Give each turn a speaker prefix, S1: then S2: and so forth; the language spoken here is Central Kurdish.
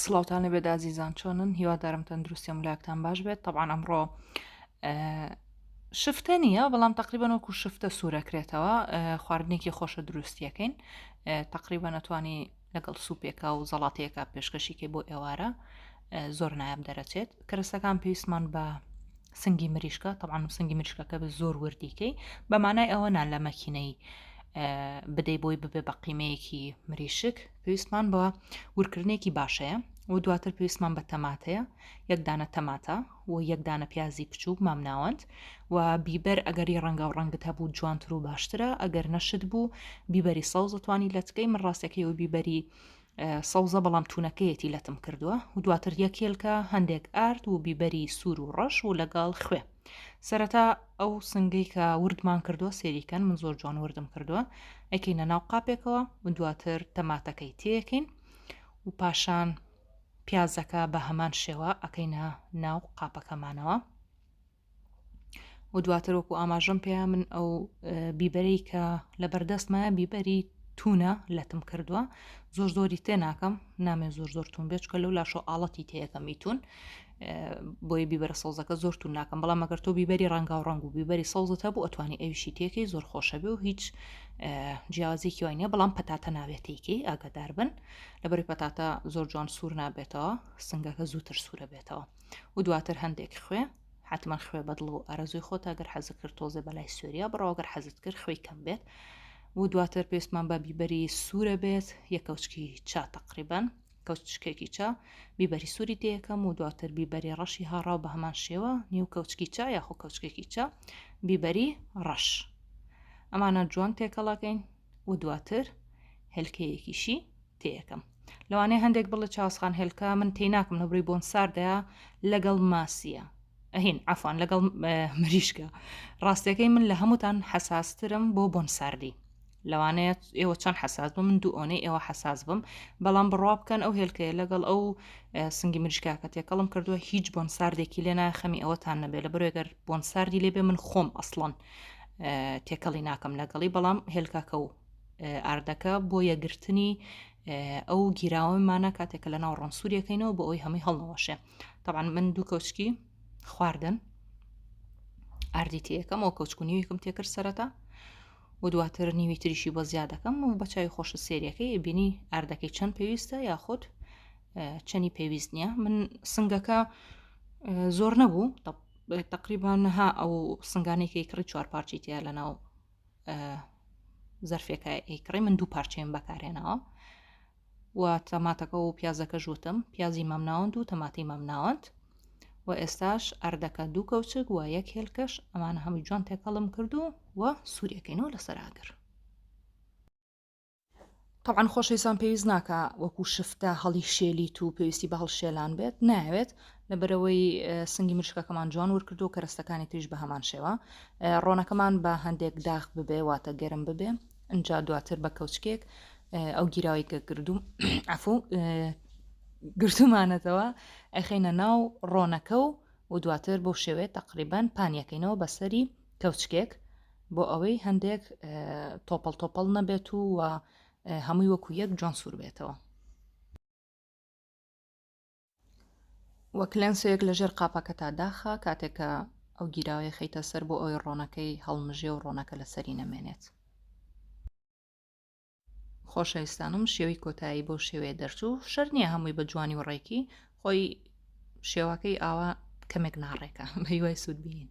S1: سڵاوتان لەبێت ئازیزان چۆنن هیوادارم تەندروستیم لاکتان باش بێت طبعاان ئەمڕۆ شفتە نییە بەڵام تقریبان وەکو شفتە سوورەکرێتەوە خواردنێکی خۆشە دروستیەکەین تقریبا نەتوانی لەگەڵ سوپێکا و زەڵاتەیەەکە پێشکەشیکە بۆ ئێوارە زۆر نایاب دەرەچێت کەرەسەکان پێویستمان بە سنگی مریشکە تەوان و سنگی مریشکەکە بە زۆر وردیکەی بەمانای ئەوە نان لە مەکینەی بدەی بۆی ببێ بە قیمەیەکی مریشک پێویستمان بە ورکردنێکی باشەیە و دواتر پێویستمان بە تەماتەیە یەک دانە تەماتە و یەک دانە پیازی بچووک مامناوەند و بیبەر ئەگەری ڕەنگە و ڕەنگت هەبوو جوانتر و باشترە ئەگەر نەشت بوو بیبەری سەوزتوانی لەتکەی من ڕاستەکەی و بیبەری سەوزە بەڵام تونەکەیەتی لەتم کردووە و دواتر یەکێلکە هەندێک ئارد و بیبەری سوور و ڕەش و لەگەڵ خوێ سەرەتا ئەو سنگەی کە وردمان کردوە سێری کەن من زۆر جوان وردم کردوە ئەکەینە ناو قاپێکەوە و دواتر تەماتەکەی تێەکەین و پاشان پیازەکە بە هەمان شێوە ئەکەینە ناو قاپەکەمانەوە و دواتر وەکو ئاماژەم پێیا من ئەو بیبەری کە لە بەردەستمە بیبەری تونە لەتم کردووە زۆر زۆری تێ ناکەم نامێ زۆر زۆر تون بێچکە لەو لاشۆ ئاڵەتی تێەکەم میتون بۆیە بیبەرە سەوزەکە زۆر تون ناکەم بەڵام مەگەر تۆ بیبەری ڕەنگا و ڕنگ و بیبەری سەوزت هەبوو ئەتوانی ئەویشی تێکەی زۆر خۆشە بێ و هیچ جیازێکی وای نیە بەڵام پەتاتە ناوێتێکی ئاگادار بن لەبەری پەتاتە زۆر جوان سوور نابێتەوە سنگەکە زووتر سوورە بێتەوە و دواتر هەندێک خوێ حتمما خوێ بەدڵ و ئارەزوی خۆتا گەر حەز کرد تۆزێ بەلای سووریا بڕاوگەر حەزت کرد خوێی کەم بێت و دواتر پێستمان بە بیبەری سوورە بێت یەکەوچکی چا تقریبان کەوچکێکی چا، بیبەری سووری تێیەکەم و دواتر بیبەری ڕەشی هاڕاو بە هەمان شێوە، نیو کەوچکی چا یاخۆ کەوچکێکی چا، بیبەری ڕەش. ئەمانە جوان تێکەڵەکەین و دواتر هێلکەیەکیشی تێیەکەم. لەوانەیە هەندێک بڵێ چاسخان هێلکە من تێی ناکەم لە بڕی بۆن ساردەیە لەگەڵ ماسیە ئەهین ئەفان لەگەڵ مریشکە ڕاستەکەی من لە هەمووتان حەساسترم بۆ بۆن ساردی لەوانەیە ئێوە چەند حساس بم من دوو ئۆنەی ئێوە حساس بم بەڵام بڕوا بکەن ئەو هێلکەیە لەگەڵ ئەو سنگی مریشکاکە تێکەڵم کردووە هیچ بۆن ساردێکی لێ ناخەمی ئەوەتان نەبێت لە بەرێگەر بۆن ساردی لێبێ من خۆم ئەسڵەن تێکەڵی ناکەم لەگەڵی بەڵام هێلکاکە و ئاردەکە بۆ یەگرتنی ئەو گیراوەمانە کاتێکە لە ناو ڕۆنسووریەکەینەوە بۆ ئەوی هەمووی هەڵنەوەشێ تاوان من دوو کەوچکی خواردن ئاردی تێەکەم ئەو کەوچکونیویکم تێکرد سەرەتا و دواتر نیوی تریشی بۆ زیاد دەکەم و بە چاوی خۆشت سێریەکەی ئەبینی ئاردەکەی چەند پێویستە یاخود چەنی پێویست نییە من سنگەکە زۆر نەبوو تقریبان نەها ئەو سنگانێکی کڕی چوار پارچی تیا لە ناو زەرفێکە ئەیکڕی من دوو پارچەیەم بەکارێنەوە و تەماتەکە و پیازەکەش وتم پیازی مامناوەند و تەماتی مامناوەند و ئێستاش ئەردەکە دوو کەوچک و یەک هێلکەش ئەمانە هەمووی جوان تێکەڵم کردو و سوورەکەینەوە لەسەر ئاگر طبعاان خۆشەویستان پێویست ناکە وەکو شفتە هەڵی شێلیت و پێویستی بە هەڵشێلان بێت ناوێت لەبەرەوەی سنگی مشکەکەمان جوان ورکرد و کەرستەکانی تریش بە هەمان شێوە ڕۆنەکەمان بە هەندێک داخ ببێ واتە گەرم ببێ ئەجا دواتر بە کەوچکێک ئەو گیراوی کە گردوم عفو گرتومانەتەوە ئەخینە ناو ڕۆنەکە و و دواتر بۆ شێوێت تقریبان پانیەکەینەوە بەسەری کەوچکێک بۆ ئەوەی هەندێک تۆپەڵ تۆپەڵ نەبێت و و هەمووی وەکو یەک جۆن سوور بێتەوە وەک لەنسۆیەک لە ژێر قاپەکەتا داخە کاتێکە ئەو گیراوەیە خەیتە سەر بۆ ئەوی ڕۆنەکەی هەڵمژێ و ڕۆنەکە لەسەری نەمێنێت خۆشەویستانم شێوی کۆتایی بۆ شێوێ دەرچوو شەر نییە هەمووی بە جوانی و ڕێکی خۆی شێوەکەی ئاوا کەمێک ناڕێکە بەهیوای سوود بینین